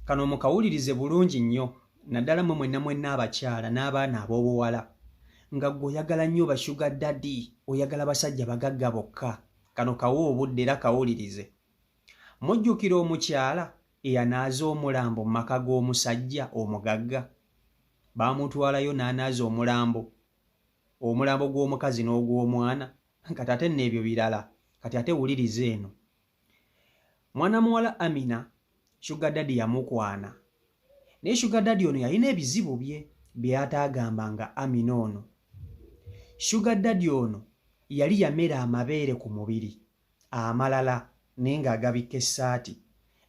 kano mukawulirize bulungi nnyo naddala mwe mwenna mwenna abakyala n'abaana ab'obuwala nga gwe oyagala nnyo bashuga dadi oyagala basajja bagagga bokka kano kawa obudde era kawulirize mujjukira omukyala eyanaaza omulambo mu maka g'omusajja omugagga baamutwalayo n'anaaza omulambo omulambo gw'omukazi n'ogw'omwana kati ate neebyo birala kati ate wuliriza eno mwana muwala amina shuga dadi yamukwana naye shuga dadi ono yalina ebizibu bye byeyataagamba nga amina ono shuga dadi ono yali yamera amabeere ku mubiri amalala naye ng'agabikka essaati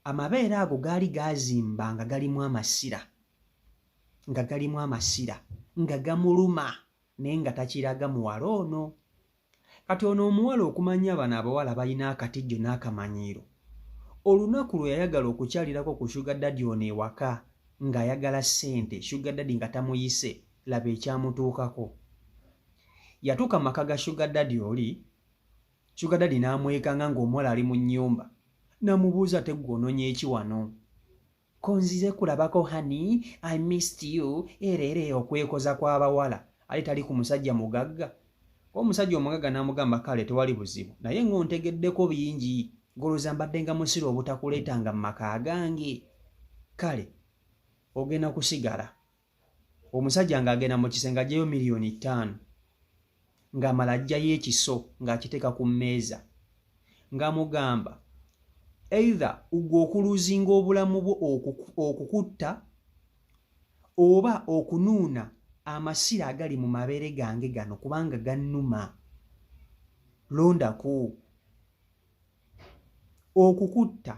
amabeere ago gaali gaazimba nga galimu amasira nga galimu amasira nga gamuluma naye nga takiraga muwala ono Kati ono omuwala okumanya bano abawala balina akatijjo nakamanyiiro olunaku lweyayagala okukyalirako ku sugar daddy ono ewaka nga ayagala sente sugar daddy nga tamuyise laba ekyamutuukako yatuuka maka ga sugar daddy oli sugar daddy namwekanga nga omuwala ali mu nyumba namubuuza tegwe ononyeeki wano konzize kulabako honey i missed you era era eyo okwekoza kw'abawala ali tali ku musajja mugagga omusajja omugagga n'amugamba kale tewali buzibu naye ng'ontegeddeko bingi goloza mbadde nga musiru obutakuleetanga mu maka agange kale ogenda kusigala omusajja ng'agenda mu kisenge ajjayo miliyoni ttaano ng'amala ajjayo ekiso ng'akiteeka ku mmeeza nga mugamba either ugwe okuluzinga obulamu bwo okukutta oba okunuuna amasira agali mu mabeere gange gano kubanga gannuma londaku okukutta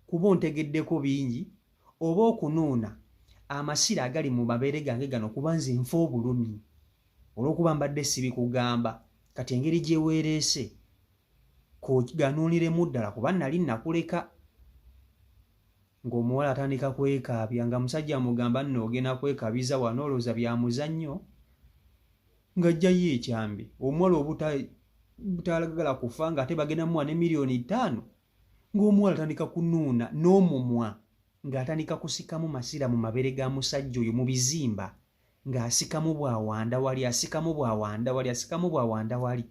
kuba ontegeddeko bingi oba okunuuna amasira agali mu mabeere gange gano kuba nze nfa obulumi olw'okuba mbadde sibikugamba kati engeri gye weereese kuganuuniremu ddala kuba nali nakuleka ng'omuwala atandika kwekaabya nga musajja amugamba nno ogenda kwekabiza wano olowooza byamuzannyo ng'aggyayo ekyambe omuwala obutaalagala kufa ng'ate bagenda muwa ne miliyoni ttaano ng'omuwala atandika kunuuna n'omumwa ng'atandika kusikamu masira mu mabere ga musajja oyo mu bizimba ng'asikamu bwawanda wali asikamu bwawanda wali asikamu bwawanda wali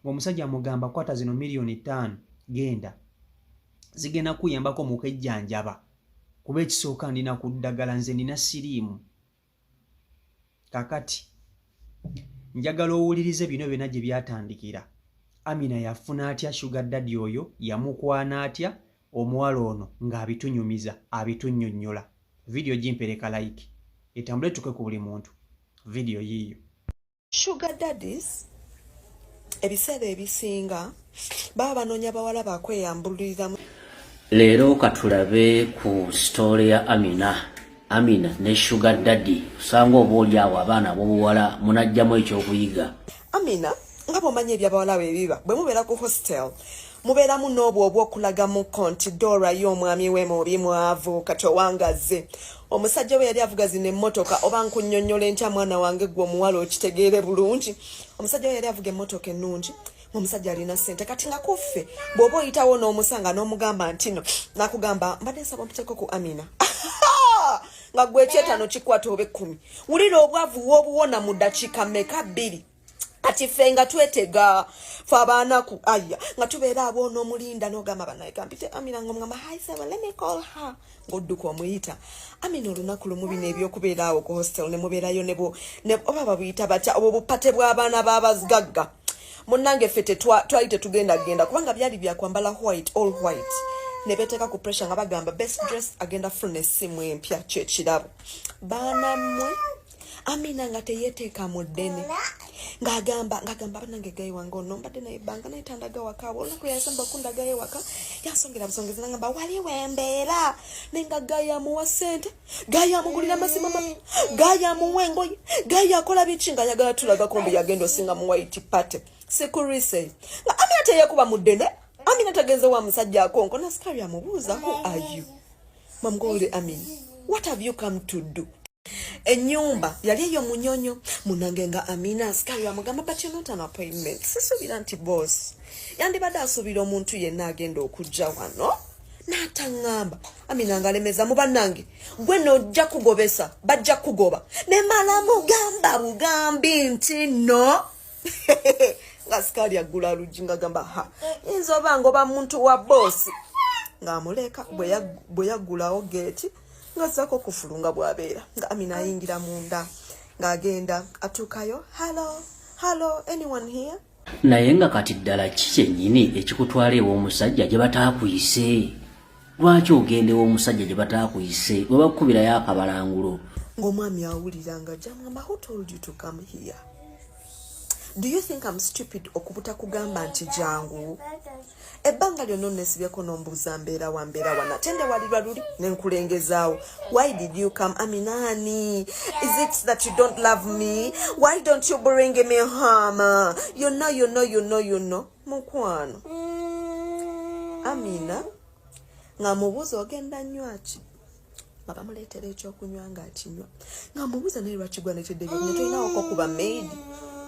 ng'omusajja amugamba kwata zino miliyoni ttaano genda zigenda kuyambako mu kejjanjaba kuba ekisooka ndina ku ddagala nze nina siriimu kakati njagala owulirize bino byona gye byatandikira amina yafuna atya shuga dadi oyo yamukwana atya omuwala ono ng'abitunyumiza abitunyonyola vidiyo gimpereka like etambule tuke ku buli muntu vidiyo yiiyo sugar daddies ebiseera ebisinga baba banoonya bawala bakweyambululiramu leero katulabe ku sitoole ya amina amina ne sugar daddy osanga oba oli awo abaana abobuwala munajjamu ekyokuyiga amina nga bwomanyi ebyabawala bwebiba bwemubeera ku hostel mubeeramu n'obwo obw'okulagamuko nti dora ye omwami we mubi mwavu kati owangazze omusajja we yali avuga zino emmotoka oba nkunyonyola entya mwana wange gwe omuwala okitegeere bulungi omusajja we yali avuga emmotoka ennungi omusajja alina sente kati nga kuffe bw'oba oyitawo n'omusanga n'omugamba ntino nakugamba mbadde nsaba omuteeko ku amina nga gwekyetano kikwata oba ekkumi wulira obwavu wobuwona mu dakiika meka bbiri kati ffe nga twetega fe abaanaku aya nga tubeera abo onomulinda nogamba banaegambite amina nga omugamba haisaba lemicall her ngaodduka omuyita amina olunaku lumu bino ebyokubeera awo ku hostel nemubeerayo nebo oba babuyita batya obwo bupate bw'abaana babazgagga munnange ffe twali tetugenda genda kubanga byali byakwambala white all white nebeteeka ku pressure nga bagamba best dress agenda funa essimu empya kyekirabo baanamwe amina nga teyeteeka mu ddene ngagamba ngagamba banange gayi wange ono mbadde naye banga naye tandaga waka olunaku yasamba okundaga ye waka yansongera busongezi nangamba wali wembeera naye nga gayi amuwa sente gayi amugulira amasimu ama gayi amuwa engoye gayi akola biki nga ayagala tulagako mbu yagenda osinga mu white party sikurise nga amina teyekuba mu ddene amina tagenze wa musajja akonko nasikabyamubuuza who are you Mom Gold, I mean, what have you come to do? enyumba yali eyo munyonyo munange nga amina asikali amugamba but you're not an appointment sisuubira nti boss yandibadde asuubira omuntu yenna agenda okujja wano n'ataŋŋamba amina nga alemeza mu bannange gwe nojja kugobesa bajja kugoba ne mala mugamba bugambi nti no nga sikaali aggula aluggi nga gamba ha yinza oba ngoba muntu wa boosi ng'amuleka bwe yaggulawo geeti ng'azzaako okufulu nga bw'abeera nga amina ayingira munda ng'agenda atuukayo hallo hallo anyone here naye nga kati ddala ki kyennyini ekikutwala ew'omusajja gye bataakuyise lwaki ogenda ew'omusajja gye bataakuyise bwe bakukubirayo akabalangulo ng'omwami awulira nga gyamwamba who told you to come here do you think am stupid okubuta kugamba nti jangu ebbanga lyonna onesibyeko nombuuza mbeera wa mbeera wana tendewalirwa luli nenkulengezaawo why did you come aminani is it that you don't love me why don't you bring me home you know you know you know you know mukwano mm. amina nga mubuuza ogenda nywaki nga bamuleetera ekyokunywa nga akinywa nga mubuuza naye lwaki gwaneteddeyo nga tolinawoko kuba maidi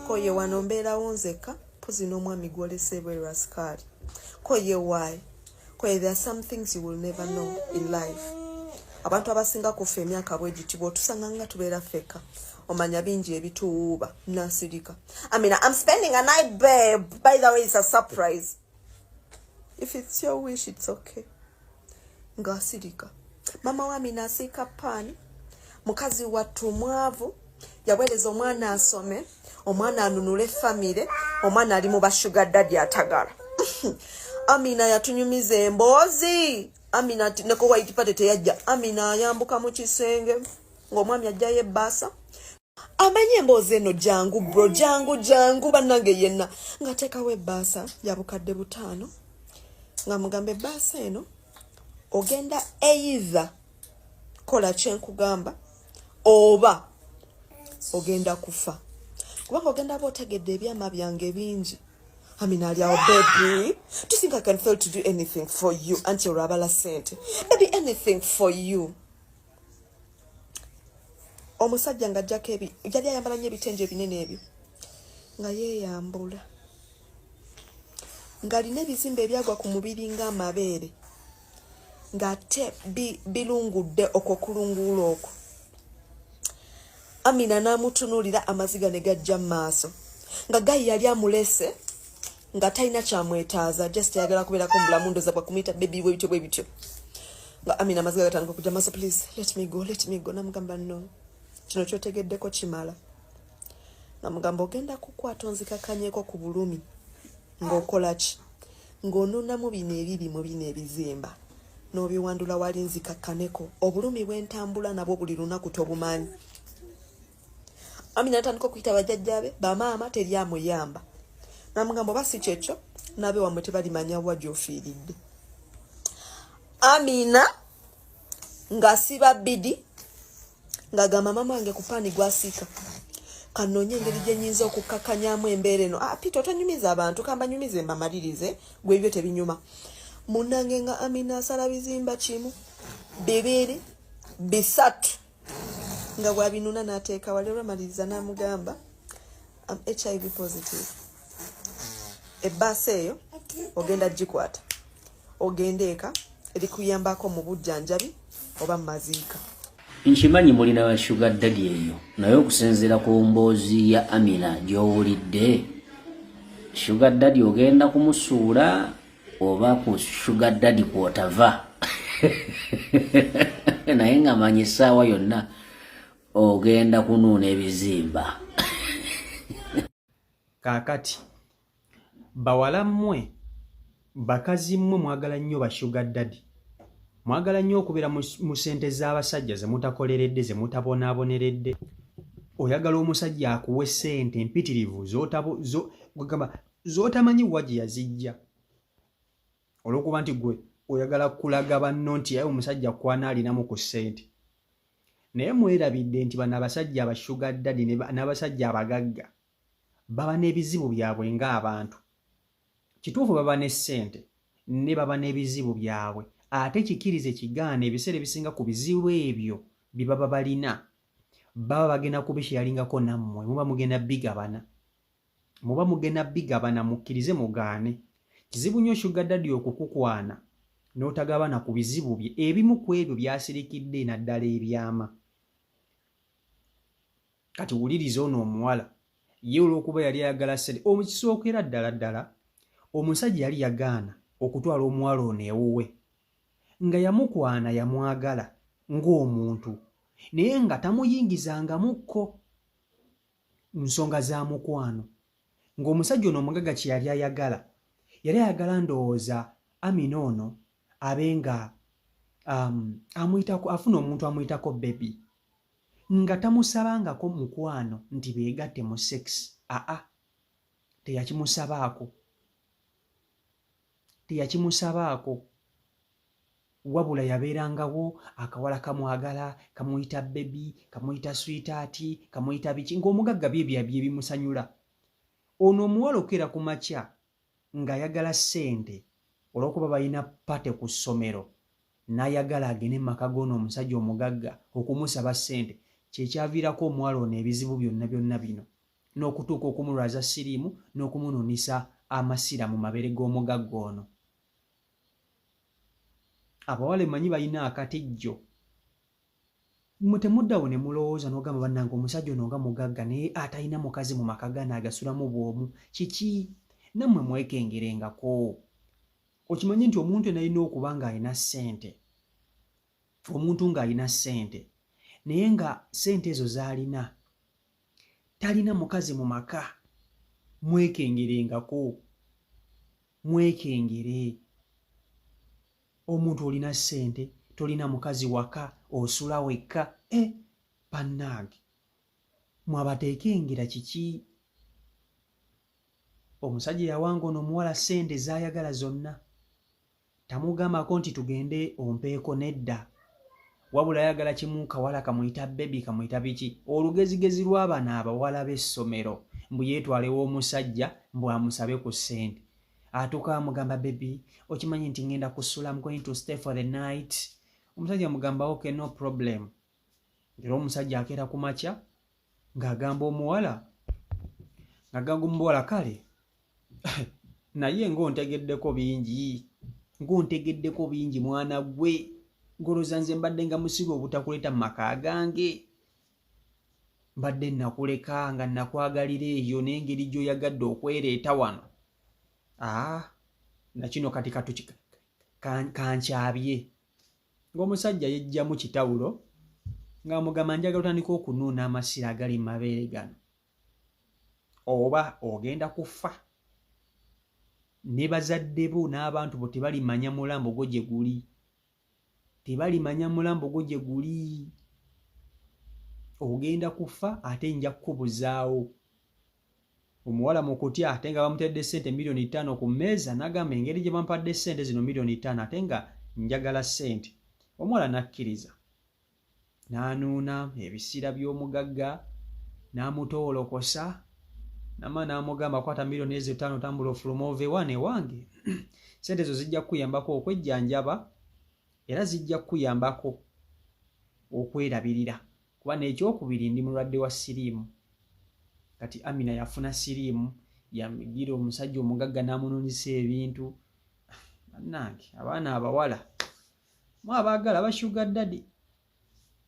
koye wano mbeerawo nzekka mpozi n'omwami gwolesa ebweru asikaali koye waayi Kwe, there are some things you will never know in life. Abantu abasinga kufa emyaka bwegiti bwotusanga nga tubeera feka omanya bingi ebituwuuba nasirika. I mean, I'm spending a night babe. By the way, it's a surprise. If it's your wish, it's okay. Ngasirika. Mama wa mina asika pani. Mukazi watu mwavu. Yaweleza omwana asome. omwana anunule famire omwana ali mu bashuga dadi atagala amina yatunyumiza emboozi amina neko white party teyajja amina ayambuka mu kisenge ng'omwami ajjayo ebbaasa amanyi emboozi eno jangu bro jangu jangu bannange yenna ngateekawo ebbaasa yabukadde butaano nga mugamba ebbaasa eno ogenda either kola kyenkugamba oba ogenda kufa kubanga ogenda ba otegedde ebyama byange bingi I mean, Ali, our baby. Do you think I can fail to do anything for you? Auntie Rabala sent. Maybe anything for you. Omusajja nga jjako ebi yali ayambala nnyo ebitengi ebinene ebyo nga yeeyambula ng'alina ebizimba ebyagwa ku mubiri ng'amabeere ng'ate bilungudde okwo kulunguula okwo amina n'amutunuulira amaziga ne gajja mu maaso nga gayi yali amulese nga talina kyamwetaaza just ayagala kubeerako mu bulamu ndoza bwakumuyita bebi bwe bityo bwe bityo nga amina amaziga gatandika okujja maaso please let me go let me go namugamba no kino kyotegeddeko kimala namugamba ogenda kukwata onzikakanyeko ku bulumi ng'okola ki ng'onuunamu bino ebibi mu bino ebizimba n'obiwandula wali nzikakkaneko obulumi bwentambula nabwo buli lunaku tobumanyi amina atandika okuyita bajjajjabe bamaama teri amuyamba namugambo oba si kyekyo nabe wamwe tebalimanya wa gyofiiridde amina ngasiba bidi ng'agamba maama wange ku paani gwasiika kanoonye engeri gye nyinza okukkakanyamu embeera eno ah, pita otonyumiza abantu kambanyumize mbamalirize gwe ebyo tebinyuma munange nga amina asala bizimba kimu bibiri bisatu nga bwabinuna n'ateeka wali olwamaliriza n'amugamba am hiv positive ebbaasa eyo ogenda gikwata ogenda eka erikuyambako mu bujjanjabi oba mu maziika nkimanyi muli na shuga dadi eyo naye okusinziira ku mboozi ya amina gy'owulidde shuga dadi ogenda kumusuula oba ku shuga dadi kwotava naye nga manyi essaawa yonna ogenda kunuuna ebizimba kaakati bawala mmwe bakazi mmwe mwagala nnyo bashuga dadi mwagala nnyo okubeera mu sente z'abasajja ze mutakoleredde ze mutabonaaboneredde oyagala omusajja akuwe sente mpitirivu z'otamanyi wa gye yazijja olw'okuba nti gwe oyagala kulaga banno nti yaye omusajja kwana alinamu ku sente naye mwerabidde nti bano abasajja abashuga dadi n'abasajja abagagga baba n'ebizibu byabwe ng'abantu kituufu baba ne ssente ne baba n'ebizibu byabwe ate kikirize kigaana ebiseera ebisinga ku bizibu ebyo bye baba balina baba bagenda kubisheyalingako nammwe muba mugenda bigabana muba mugenda bigabana mukkirize mugaane kizibu nnyo shugadadi okukukwana n'otagabana ku bizibu bye ebimu ku ebyo byasirikidde naddala ebyama kati wuliriza ono omuwala ye olw'okuba yali ayagala sente omukisookera ddala ddala omusajja yali yagaana okutwala omuwala ono ewuwe nga yamukwana yamwagala ng'omuntu naye nga tamuyingizangamukko nsonga za mukwano ng'omusajja ono omugaga kye yali ayagala yali ayagala ndowooza amina ono abe nga um, amuyitako afuna omuntu amuyitako bebi nga tamusabangako mukwano nti beegatte mu sex aa teyakimusabaako teyakimusabaako wabula yabeerangawo akawala kamwagala kamuyita bebi kamuyita switaati kamuyita biki ng'omugagga byebyabye bimusanyula ono omuwala okukeera ku makya ng'ayagala ssente olw'okuba balina pate ku ssomero n'ayagala agende mu maka g'ono omusajja omugagga okumusaba ssente kyekyaviirako omuwala ono ebizibu byonna byonna bino n'okutuuka okumulwaza siriimu n'okumunuunisa amasira mu mabere g'omugagga ono abawala emanyi balina akatijjo mwe temuddawo ne mulowooza n'ogamba bannange omusajja ono nga mugagga naye atalina mukazi mu maka gano agasulamu bwomu kiki nammwe mwekengerengako okimanyi nti omuntu enalina okuba ng'alina ssente omuntu ng'alina ssente naye nga ssente ezo z'alina talina mukazi mu maka mwekengerengako mwekengere omuntu olina ssente tolina mukazi waka osula wekka e eh, bannange mwabateekengera kiki omusajja yawanga ono omuwala ssente zaayagala zonna tamugamako nti tugende ompeeko nedda wabula ayagala kimu kawala kamuyita bebi kamuyita biki olugezigezi lw'abana abawala b'essomero mbu yeetwalewo omusajja mbu amusabe ku ssente atuuka amugamba bebi okimanyi nti ngenda kusula mgoin to stay for the night omusajja amugamba ok no problem era omusajja akeera ku makya ng'agamba omuwala ng'agamba omuwala kale naye ng'ontegeddeko bingi ng'ontegeddeko bingi mwana gwe ngoloza nze mbadde nga musiru obutakuleeta mu maka gange mbadde nakuleka nga nakwagalira eyo n'engeri gy'oyagadde okwereeta wano aa ah, nakino kati katuki kankyabye ng'omusajja yejjamu kitawulo ng'amugamba njagala otandika okunuuna amasira agali mu mabeere gano oba ogenda kufa ne bazadde bo n'abantu bo tebalimanya mulambo gwo gye guli tebalimanya mulambo gwo gye guli ogenda kufa ate nja kukubuzaawo omuwala mu kutya ate nga bamutadde ssente miliyoni ttaano ku mmeeza n'agamba engeri gye bampadde ssente zino miliyoni ttaano ate nga njagala ssente omuwala n'akkiriza n'anuuna ebisiira by'omugagga n'amutoolokosa nama n'amugamba kwata miliyoni ezo ttaano tambula ofuluma ove wane wange ssente ezo zijja kukuyambako okwejjanjaba era zijja kukuyambako okwerabirira kuba n'ekyokubiri ndi mulwadde wa siriimu kati amina yafuna siriimu yagira omusajja omugagga n'amunonisa ebintu bannange abaana abawala mu abaagala bashuga dadi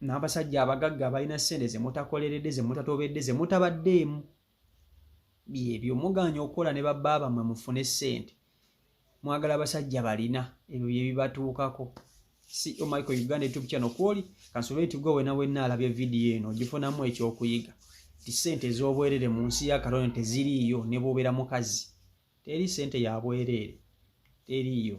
n'abasajja abagagga abalina ssente ze mutakoleredde ze mutatobedde ze mutabaddeemu byebyo mugaanye okukola ne babba bammwe mufune ssente mwagala abasajja balina ebyo bye bibatuukako si omaiko oh uganda youtube channel kwoli kansobere nti gwe wena wenna alabye vidiyo eno ogifunamu ekyokuyiga ti ssente ez'obwereere mu nsi ya katonda teziriiyo ne bwobeera mukazi teri ssente ya bwereere teriiyo